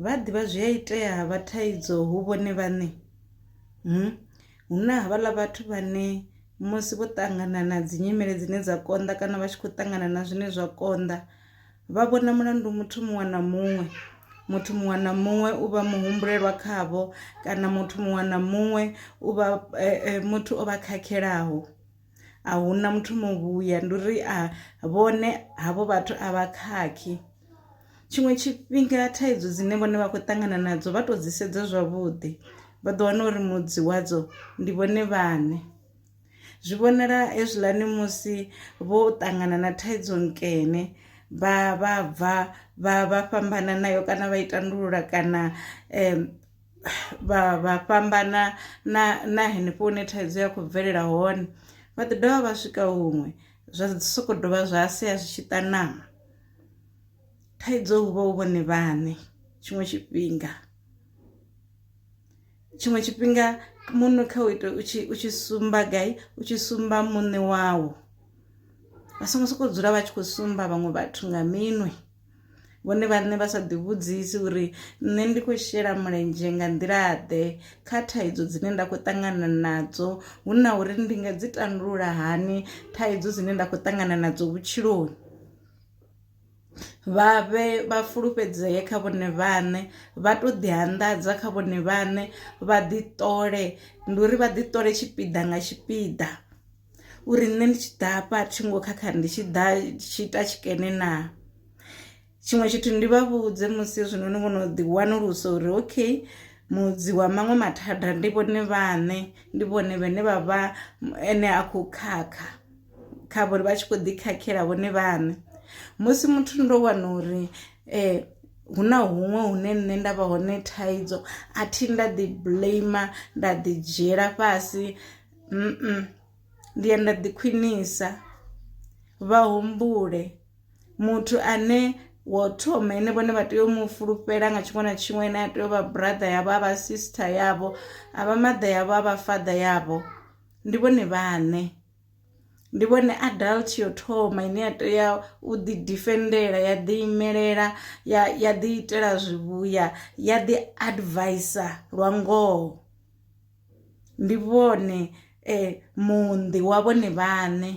Vha ḓivha zwi a itea ha vha thaidzo hu vhone vhaṋe. Hu na havhaḽa vhathu vhane musi vho ṱangana na dzi nyimele dzine dza konḓa kana vha tshi khou ṱangana na zwine zwa konḓa vha vhona mulandu muthu muṅwe na muṅwe, muthu muṅwe na muṅwe u vha muhumbulelwa khavho kana muthu muṅwe na muṅwe u vha muthu o vha khakhelaho. a huna muthu muvhuya ndi uri a vhone havho vhathu a vha khakhi tshiṅwe tshifhinga thaidzo dzine vhone vha khou ṱangana nadzo vha to dzi sedza zwavhuḓi vha ḓo wana uri mudzi wadzo ndi vhone vhane zwi vhonala hezwiḽani musi vho ṱangana na thaidzo nkene vha vha bva vha vha fhambana nayo kana vha i tandulula kana um vha vha fhambana na na henefho hune thaidzo ya khou bvelela hone vha ḓi dovha vha swika huṅwe zwa soko dovha zwa sia zwi tshi ṱanama thaidzo hu vha hu vhone vhaṋe tshiṅwe tshifhinga tshiṅwe tshifhinga muṋe kha u ita u tshi u tshi sumba gai u tshi sumba muṋe wawo vha songo sokou dzula vha tshi khou sumba vhaṅwe vhathu nga minwe. vhone vhaṋe vha sa ḓivhudzisi uri nṋe ndi khou shela mulenzhe nga nḓilaḓe kha thaidzo dzine nda khou ṱangana nadzo hu na uri ndi nga dzi tandulula hani thaidzo dzine nda khou ṱangana nadzo vhutshiloni vha vhe vha fulufhedzee kha vhone vhaṋe vha to ḓi anḓadza kha vhone vhaṋe vha ḓi ṱole ndi uri vha ḓi ṱole tshipiḓa nga tshipiḓa. uri nṋe ndi tshi ḓa hafha thi ngo khakha ndi tshi ḓa tshi ita tshikene na tshiṅwe tshithu ndi vha vhudze musi zwino ni vhono ḓi wanulusa uri okay mudzi wa maṅwe mathada ndi vhone vhaṋe ndi vhone vhane vha vha ene a khou khakha kha vhori vha tshi khou ḓi khakhela vhone vhaṋe musi muthu ndo wana uri um hu na huṅwe hune nṋe nda vha hone thaidzo a thi nda ḓi blame nda ḓi dzhiela fhasi Ndi ya nda ḓi khwinisa vha humbule muthu ane wo thoma ine vhone vha tea u mu fulufhela nga tshiṅwe na tshiṅwe ane a tea u vha brother yavho avha sister yavho a vha mother yavho a vha father yavho ndi vhone vhaṋe. Ndi vhone adult yo thoma ine ya tea u ḓi ḓifendela ya ḓi imelela ya ya ḓi itela zwivhuya ya ḓi adviser lwa ngoho. ndi vhone muṋḓi wa vhone vhaṋe.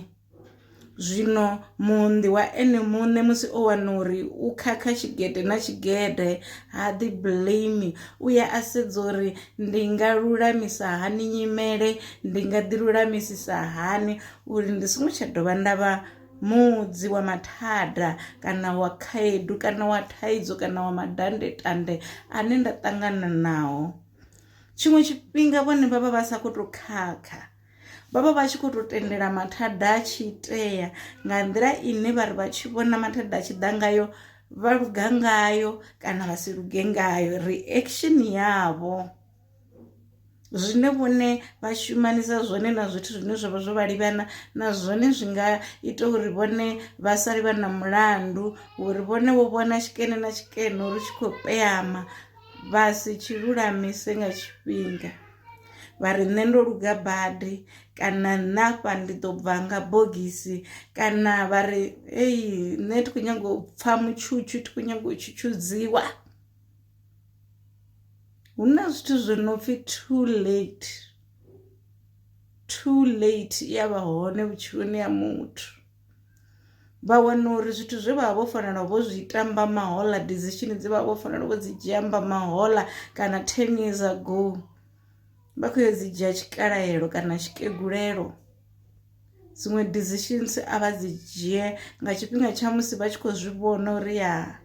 Zwino muṋḓi wa ene muṋe musi o wana uri u khakha tshigede na tshigede ha ḓi blame u ya a sedza uri ndi nga lulamisa hani nyimele ndi nga ḓi lulamisisa hani uri ndi songo tsha dovha nda vha muḓi wa mathada kana wa khaedu kana wa thaidzo kana wa mandandetande ane nda ṱangana nao. tshiṅwe tshifhinga vhone vha vha vha sa khou tou khakha vha vha vha tshi khou tou tendela mathada a tshi itea nga nḓila ine vha ri vha tshi vhona mathada a tshi ḓa ngayo vha luga ngayo kana vha si luge ngayo reaction yavho zwine vhone vha shumanisa zwone na zwithu zwine zwavha zwo vha livhana na zwone zwi nga ita uri vhone vha sali vha na mulandu uri vhone vho vhona tshikene na tshikene uri tshi khou peyama vha si tshi lulamise nga tshifhinga vha ri nṋe ndo luga badi kana nṋe afha ndi ḓo bva nga bogisi kana vha ri eyi nṋe thi khou nyanga u pfha mutshutshu thi khou nyanga u tshutshudziwa hu na zwithu zwo no pfhi too late too late i ya vha hone vhutshiloni ha muthu. vha wana uri zwithu zwe vha vha vho fanela vho zwi tamba mahola decision dze vha vha vho fanela vho dzi dzhia mba mahola kana ten years ago vha khou yo dzi dzhia tshikalaelo kana tshikegulelo dziṅwe decisions a vha dzi dzhie nga tshifhinga tsha musi vha tshi khou zwi vhona uri ya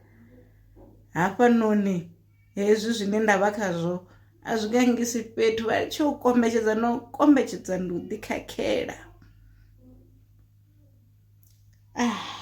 hafhanoni hezwi zwine nda vha khazwo a zwi gangisi fhethu vha tshi u kombetshedza no kombetshedza ndi u ḓikhakhela ah.